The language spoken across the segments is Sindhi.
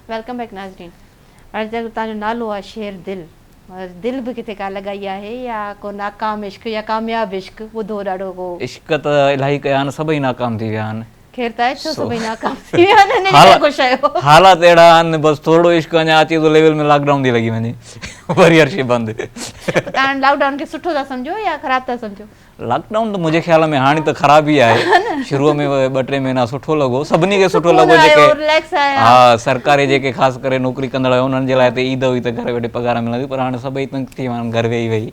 ويلڪم بيڪ ناظرين هاڻي جيڪو توهان جو نالو آهي شير دل دل به ڪٿي ڪا لڳائي آهي يا ڪو ناڪام عشق يا ڪامياب عشق ٻڌو ڏاڍو ڪو. عشق ته الاهي ڪيا آهن سڀئي ناڪام ٿي ويا آهن خير طاهر ڇو سڀئي ناڪام ٿي ويا آهن انهن کي ڪو شيء حالات اهڙا آهن بس ٿورڙو عشق اڃا اچي ٿو ليول ۾ لاڪ ڊائون ٿي لڳي وڃي وري هر شيء بند تاڻي لاڪ ڊائون کي سٺو ٿا سمجهو يا خراب ٿا سمجهو لاڪ ڊائون ته منهنجي خيال ۾ هاڻي ته خراب ئي آهي شروع ۾ ٻه ٽي مهينا سٺو لڳو سڀني کي سٺو لڳو جيڪي ها سرڪاري جيڪي خاص ڪري نوڪري ڪندڙ هيا انهن جي لاء ته عيد هئي ته گهر ويٺي پگهار ملندي پر هاڻي سڀئي تنگ ٿي ويا آهن گهر ويهي ويهي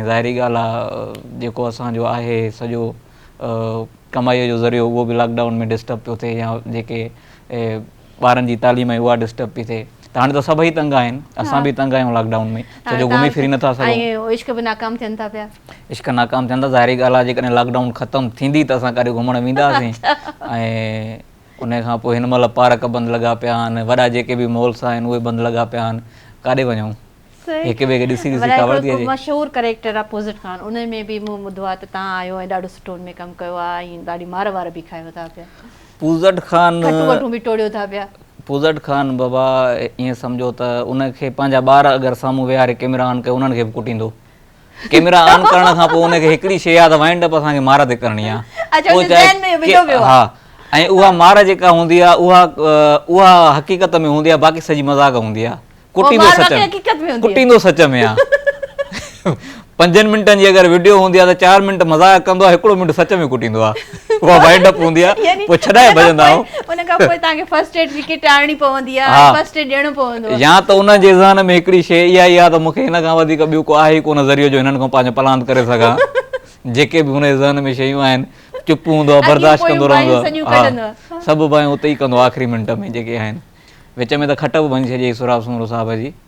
۽ ظاهري ڳالهه آهي جيڪو اسانجو آهي سڄو ڪمائيء جو ذريعو اهو به لاڪ ڊائون ۾ ڊسٽرب پيو ٿئي يا جيڪي ٻارن جي تعليم آهي اها ڊسٽرب پئي ٿئي ته هاڻي ته سڀئي تنگ آهن اسان به تنگ آهيون لاڪ ڊائون ۾ ڇو جو گهمي ڦري نٿا سگهون عشق به ناڪام ٿين ٿا پيا عشق ناڪام ٿين ٿا ظاهري ڳالهه آهي جيڪڏهن لاڪ ڊائون ختم ٿيندي ته اسان ڪاڏي گهمڻ وينداسين ۽ ان کان پوء هن مهل پارڪ بند لڳا پيا آهن وڏا جيڪي به مالس آهن اهي بند لڳا پيا آهن ڪاڏي وڃون هڪ ٻئي کي ڏسي ڏسي ڪاوڙ ٿي اچي. مشهور ڪريڪٽر آ پوزٽ خان ان ۾ به مون ٻڌو آ ته تان آيو ۽ ڏاڍو سٺو ان ۾ ڪم ڪيو آ ۽ ڏاڍي مار وار به کايو ٿا پيا پوزٽ خان کٽون وٽون به ٽوڙيو ٿا پيا. پوزٽ خان بابا ائين سمجهو ته ان کي پنهنجا ٻار اگر سامهون ويهاري ڪيمرا آن ڪيو انهن کي به ڪٽيندو. ڪيميرا آن ڪرڻ کان پوء ان کي هڪڙي شيء ياد وائنڊ اپ اسان کي مار تي ڪرڻي آ اچا اچا ذهن ۾ وڌو ويو آ ۽ اها مار جيڪا هوندي آ اها اها حقيقت ۾ هوندي آ باقي سڄي مذاق هوندي آ ڪٽيندو سچ ۾ حقيقت ۾ هوندي ڪٽيندو سچ ۾ آ پنجن منٽن جي اگر وڊيو هوندي آ ته چار منٽ مذاق ڪندو آ هڪڙو منٽ سچ ۾ ڪٽيندو آ اها وائنڊ اپ هوندي آ پوء ڇڏائي ڀڄندا آهيون ان کان پوء توهان کي فرسٽ ايڊ جي ڪٽ آڻڻي پوندي آ فرسٽ ايڊ ڏيڻو پوندو آ يا ته انهن جي ذهن ۾ هڪڙي شيء اها ئي آ ته مون کي هن کان وڌيڪ ٻيو ڪو آهي ئي ڪونه ذريعو جو هنن کان پنهنجو پلاند ڪري سگهان جيڪي به هن جي ذهن ۾ شيون آهن چپ هوندو آ برداشت ڪندو رهندو آ سڄيون ڪڍندو آ سڀ بايون اتي ئي ڪندو آ آخري منٽ ۾ جيڪي آهن وچ ۾ ته کٽ به ڀڃي ڇڏي هئي سهراب سومرو صاحب جي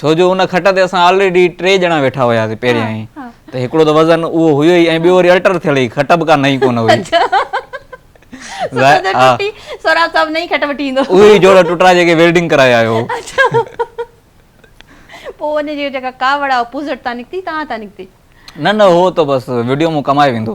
ڇو جو ان کٽ تي اسان آلريڊي ٽي ڄڻا ويٺا هياسين پهريائين ته هڪڙو ته وزن اهو هيو ئي ۽ ٻيو وري الٽر ٿيل هئي کٽ به ڪا نئين ڪونه هئي سهراب صاحب نئين کٽ وٺي ايندو اهي ئي جوڙا ٽٽا جيڪي ويلڊنگ ڪرائي آيو هو پوء ان جي جيڪا ڪاوڙ آهي اها پوزٽ تان نڪتي تان تان نڪتي نه نه اهو ته بس وڊيو مون ڪمائي ويندو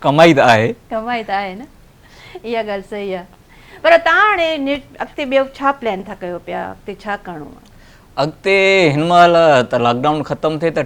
ڪمائي ته آهي. ڪمائي ته آهي نه. اها ڳالهه صحيح آهي. پر تان هاڻي اڳتي ٻيو ڇا پلان ٿا ڪيو پيا؟ اڳتي ڇا ڪرڻو آهي؟ اڳتي هن مهل ته لاڪ ڊائون ختم ٿئي ته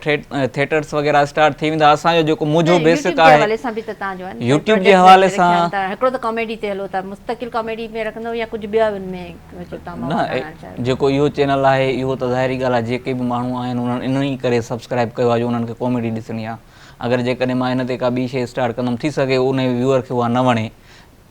ٿيٽرس وغيره اسٽارٽ ٿي ويندا. اسان جو جيڪو منهنجو بيسڪ آهي. يوٽيوب جي حوالي سان به ته تان جو آهي. يوٽيوب جي حوالي سان. هڪڙو ته ڪاميڊي تي هلو ٿا. مستقل ڪاميڊي ۾ رکندو يا ڪجهه ٻيا ان ۾ جو تان مواد آڻڻ چاهيو. نه جيڪو اهو چينل آهي اهو ته ظاهري ڳالهه آهي جيڪي به ماڻهو آهن انهن انهي ڪري سبسڪرائب ڪيو آهي جو انهن کي ڪاميڊي ڏسڻي آهي. اگر جيڪڏهن مان ان تي ڪا ٻي شيء اسٽارٽ ڪندم ٿي سگهي ان ويوئر کي اها نه وڻي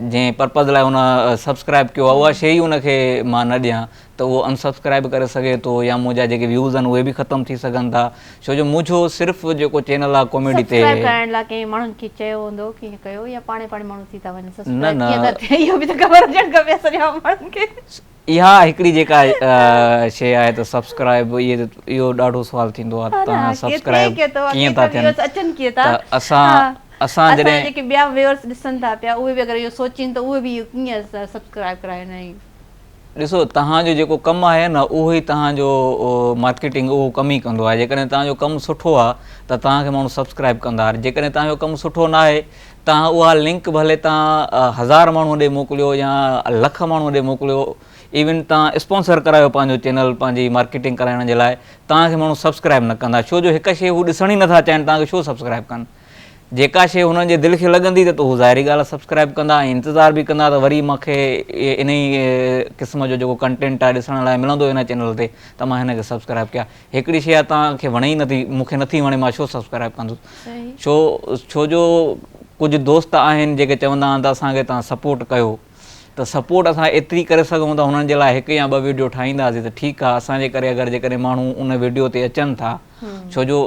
جنهن پرپز لاء ان سبسڪرائب ڪيو آهي اها شيء ئي ان کي مان نه ڏيان ته اهو انسبسڪرائب به ڪري سگهي ٿو يا منهنجا جيڪي ويوز آهن اهي به ختم ٿي سگهن ٿا ڇو جو منهنجو صرف جيڪو چينل آهي ڪاميڊي تي سبسڪرائب ڪرائڻ لاء ڪنهن ماڻهن کي چيو هوندو ڪنهن ڪيو يا پاڻي پاڻي ماڻهو ٿي ٿا وڃن سبسڪرائب ڪيئن ٿا ٿين اهو به ته خبر هجڻ کپي اسان جهڙا ماڻهن کي اها هڪڙي جيڪا شي آهي ته سبسڪرائب اهو ڏاڍو سوال ٿيندو آهي تان سبسڪرائب ڪيئن ٿا ٿين اچن ڪيئن ٿا اسان اسان جڏهن جيڪي ٻيا ويورس ڏسن ٿا پيا اهي به اگر اهو سوچين ته اهي به ڪيئن سبسڪرائب ڪرائين ۽ ڏسو تهان جو جيڪو ڪم آهي نه اهو ئي تهان جو مارڪيٽنگ اهو ڪم ئي ڪندو آهي جيڪڏهن تهان جو ڪم سٺو آهي ته تهان کي ماڻهو سبسڪرائب ڪندا جيڪڏهن تهان جو ڪم سٺو ناهي تان اها لنڪ ڀلي تان هزار ماڻهو ڏي موڪليو يا لک ماڻهو ڏي موڪليو ايون تان اسپانسر ڪرايو پنهنجو چينل پنهنجي مارڪيٽنگ ڪرائڻ جي لاء تان کي ماڻهو سبسڪرائب نه ڪندا ڇو جو هڪ شي هو ڏسڻ ئي نٿا چاهين تان کي ڇو سبسڪرائب ڪن جيڪا شي هنن جي دل کي لڳندي ته هو ظاهري ڳالهه آهي سبسڪرائب ڪندا ۽ انتظار به ڪندا ته وري مان کي انهي قسم جو جيڪو ڪنٽينٽ آهي ڏسڻ لاء ملندو هن چينل تي ته مان هن کي سبسڪرائب ڪيا هڪڙي شيء آ توهان کي وڻي ئي نٿي مون کي نٿي وڻي مان ڇو سبسڪرائب ڪندس ڇو ڇو جو ڪجهه دوست آهن جيڪي چوندا آهن ته اسان کي توهان سپورٽ ڪيو ته سپورٽ اسان ايتري ڪري سگهون ٿا هنن جي لاء هڪ يا ٻه ويڊيو ٺاهينداسي ته ٺيڪ آ اسان جي ڪري اگر جيڪڏهن ماڻهو ان ويڊيو تي اچن ٿا ڇو جو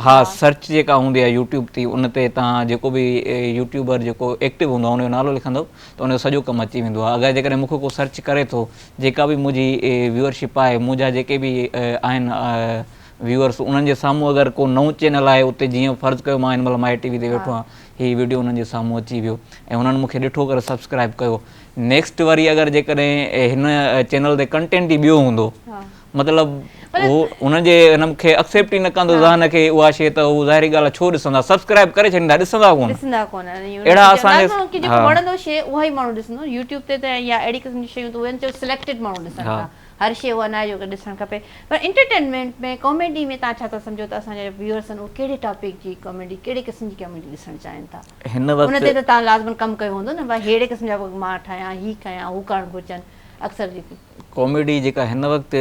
ها سرچ جيڪا هوندي آ يوٽيوب تي ان تي توهان جيڪو به يوٽيوبر جيڪو ايڪٽو هوندو آ ان جو نالو لکندو ته ان جو سڄو ڪم اچي ويندو آ اگر جيڪڏهن مون کي ڪو سرچ ڪري ٿو جيڪا به منهنجي ويورشپ آهي منهنجا جيڪي به آهن ويورس انهن جي سامهون اگر ڪو نئون چينل آهي اتي جيئن فرض ڪيو مان هن مهل مائي ٽي وي تي ويٺو آهيان هي ويڊيو انهن جي سامهون اچي ويو ۽ انهن مونکي ڏٺو ڪري سبسڪرائب ڪيو نيڪسٽ وري اگر جيڪڏهن هن چينل تي ڪنٽينٽ ئي ٻيو هوندو مطلب هو هن جي هن کي اڪسيپٽ ئي نه ڪندو ذهن کي اها شي ته هو ظاهري ڳالهه ڇو ڏسندا سبسڪرائب ڪري ڇڏيندا ڏسندا ڪون ڏسندا ڪون اهڙا اسان جي ڪي جيڪو وڻندو شي اها ئي ماڻهو ڏسندو يوٽيوب تي ته يا اهڙي قسم جي شيون ته اهي چئو سليڪٽيڊ ماڻهو ڏسن ٿا هر شي اها ناهي جو ڏسڻ کپي پر انٽرٽينمينٽ ۾ ڪاميڊي ۾ تان ڇا ٿا سمجهو ته اسان جا ويورس آهن اهي ڪهڙي ٽاپڪ جي ڪاميڊي ڪهڙي قسم جي ڪاميڊي ڏسڻ چاهين ٿا هن وقت ان تي ته تان لازمن ڪم ڪيو هوندو نه ڀاء ههڙي قسم جا مان ٺاهيان هي ڪيان هو ڪرڻ گهرجن اڪثر جيڪي ڪاميڊي جيڪا هن وقت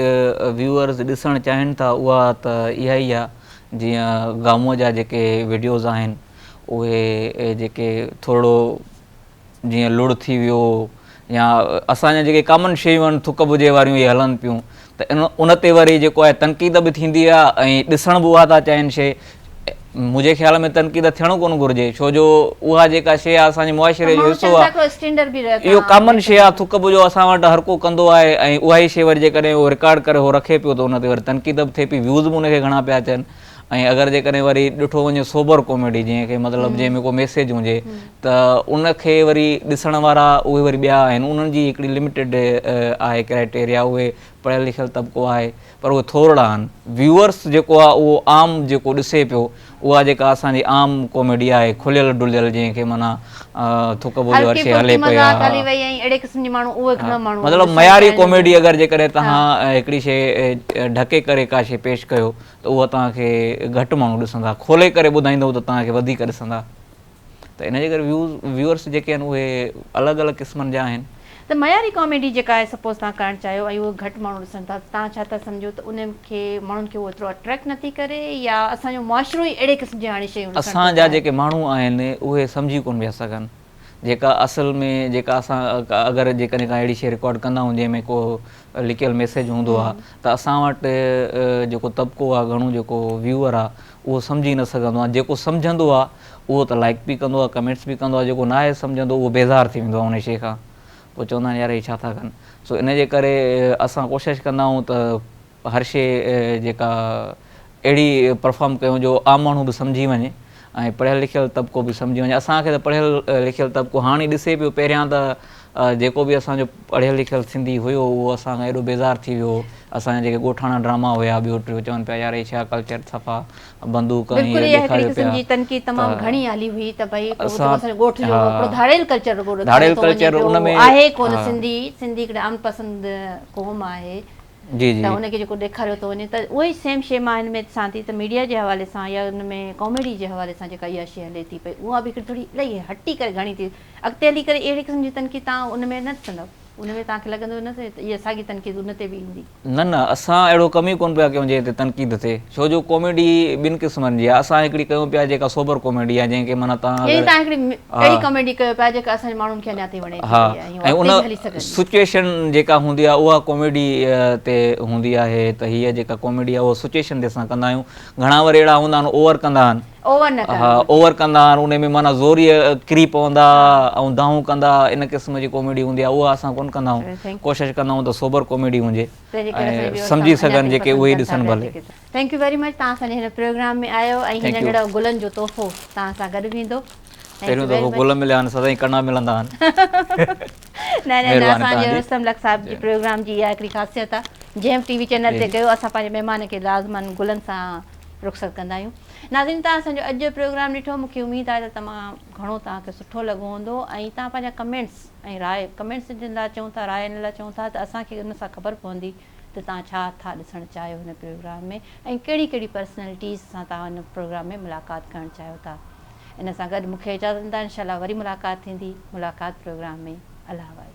ويوئرز ڏسڻ چاهين ٿا اها ته اها ئي آهي جيئن گامو جا جيڪي وڊيوز آهن اهي جيڪي ٿورڙو جيئن لڙ ٿي ويو يا اسان جا جيڪي ڪامن شيون آهن ٿڪ بجي واريون اهي هلن پيون ته ان تي وري جيڪو آهي تنقيد به ٿيندي آهي ۽ ڏسڻ به اها ٿا چاهين شيء منهنجي خيال ۾ تنقيد ٿيڻ ڪونه گهرجي ڇو جو اها جيڪا شيء آهي اسان جي معاشري جو حصو آهي اهو ڪامن شيء آهي ٿڪ به جو اسان وٽ هر ڪو ڪندو آهي ۽ اها ئي شيء وري جيڪڏهن اهو رڪارڊ ڪري اهو رکي پيو ته ان تي وري تنقيد به ٿئي پئي ويوز به ان کي گهڻا پيا اچن ۽ اگر جيڪڏهن وري ڏٺو وڃي سوبر ڪاميڊي جنهن کي مطلب جنهن ۾ ڪو ميسيج هجي ته ان کي وري ڏسڻ وارا اهي وري ٻيا آهن انهن جي هڪڙي لميٽيڊ آهي ڪرائٽيريا اهي پڙهيل لکيل طبقو آهي پر اهي ٿورڙا آهن ويوئرس جيڪو آهي اهو عام جيڪو ڏسي پيو اها جيڪا اسان جي عام ڪاميڊي آهي کليل ڊليل جنهن کي معنيٰ ٿڪ ٻوجهه هر شي هلي پئي آهي مطلب معياري ڪاميڊي اگر جيڪڏهن توهان هڪڙي شي ڍڪي ڪري ڪا شي پيش ڪيو ته اها توهان کي گهٽ ماڻهو ڏسندا کولي ڪري ٻڌائيندو ته توهان کي وڌيڪ ڏسندا ته ان جي ڪري ويوز ويورس جيڪي آهن اهي الڳ الڳ قسمن جا آهن. ته معياري ڪاميڊي جيڪا آهي سپوز تهان ڪرڻ چاهيو ۽ اهو گهٽ ماڻهو ڏسن ٿا ته تهان ڇا ٿا سمجهو ته ان کي ماڻهن کي اهو ايترو اٽريڪٽ نه ٿي ڪري يا اسان جو معاشرو ئي اهڙي قسم جي هاڻي شيون ڏسڻ ٿو چاهي. اسان جا جيڪي ماڻهو آهن اهي سمجهي ڪونه پيا سگهن جيڪا اصل ۾ جيڪا اسان اگر جيڪڏهن ڪا اهڙي شي رڪارڊ ڪندا آهيون جنهن ۾ ڪو لڪيل ميسيج هوندو آ ته اسان وٽ جيڪو طبقو آ گهڻو جيڪو ويوئر آ اهو سمجهي نه سگهندو آ جيڪو سمجهندو آ اهو ته لائڪ به ڪندو آ ڪمينٽس به ڪندو آ جيڪو ناهي سمجهندو اهو بيزار ٿي ويندو آ ان شي کان پوء چوندا آهن يار هي ڇا ٿا ڪن سو ان جي ڪري اسان ڪوشش ڪندا آهيون ته هر شي جيڪا اهڙي پرفارم ڪيون جو عام ماڻهو به سمجهي وڃي ۽ پڙهيل لکيل طبقو به سمجهي وڃي اسان کي ته پڙهيل لکيل طبقو هاڻي ڏسي پيو پهريان ته جيڪو به اسان جو پڙهيل لکيل سنڌي هيو اهو اسان کان ايڏو بيزار ٿي ويو اسان جا جيڪي ڳوٺاڻا ڊراما هيا ٻيو ٽيو چون پيا يار هي ڇا ڪلچر صفا بندوق ۽ هي ڏيکاريو پيا ته اسان جي جي. ته ان کي جيڪو ڏيکاريو ٿو وڃي ته اهو ئي سيم شي مان هن ۾ ڏسان ٿي ته ميڊيا جي حوالي سان يا ان ۾ ڪاميڊي جي حوالي سان جيڪا اها شي هلي ٿي پئي اها به هڪڙي ٿوري الائي هٽي ڪري گهڻي ٿي اڳتي هلي ڪري اهڙي قسم جي تنقيد تان ان ۾ نه ڏسندؤ ان ۾ توهان کي لڳندو نه ته اها ساڳي تنقيد ان تي به ايندي. نه نه اسان اهڙو ڪم ئي ڪونه پيا ڪيون جنهن تي تنقيد ٿئي ڇو جو ڪاميڊي ٻن قسمن جي آهي اسان هڪڙي ڪيون پيا جيڪا سوبر ڪاميڊي آهي جنهن کي معنيٰ توهان اگر يعني توهان هڪڙي اهڙي ڪاميڊي ڪيو پيا جيڪا اسان جي ماڻهن کي اڃا تائين وڻي ٿي پئي آهي. ان سچوئيشن جيڪا هوندي آهي اها ڪاميڊي تي هوندي آهي ته هي جيڪا ڪاميڊي آهي اها سچوئيشن تي اسان ڪندا آهيون گهڻا وري اهڙا هوندا آهن اوور ڪندا آهن اوور ڪندا آهن ان ۾ معنيٰ زور ئي ڪري پوندا ۽ دانهون ڪندا ان قسم جي ڪاميڊي هوندي آهي اها اسان ڪونه ڪندا آهيون ڪوشش ڪندا آهيون ته سوبر ڪاميڊي هجي سمجهي سگهن جيڪي اهي ڏسن ڀلي ٿينڪ يو ويري مچ توهان اسانجي هن پروگرام ۾ آيو ۽ هي ننڍڙو گلن جو تحفو توهان سان گڏ ويندو ٿينڪ يو ويري مچ پهريون دفعو گل مليا آهن سدائين ڪنا ملندا آهن نه نه نه اسان جي رستم لڪ صاحب جي پروگرام جي اها هڪڙي خاصيت آهي جنهن ٽي وي چينل تي ڪيو اسان پنهنجي مهمان کي لازما گلن سان رخصت ڪندا آهيون ناظرين توهان اسان جو اڄ جو پروگرام ڏٺو مون کي اميد آهي ته تمام گهڻو توهان کي سٺو لڳو هوندو ۽ توهان پنهنجا ڪمينٽس ۽ راء ڪمينٽس جن لاء چون ٿا راء ان لاء چون ٿا ته اسان کي ان سان خبر پوندي ته توهان ڇا ٿا ڏسڻ چاهيو هن پروگرام ۾ ۽ ڪهڙي ڪهڙي پرسنلٽيز سان توهان هن پروگرام ۾ ملاقات ڪرڻ چاهيو ٿا ان سان گڏ مونکي اجازت ڏيندا انشاء الله وري ملاقات ٿيندي ملاقات پروگرام ۾ الله حوالي.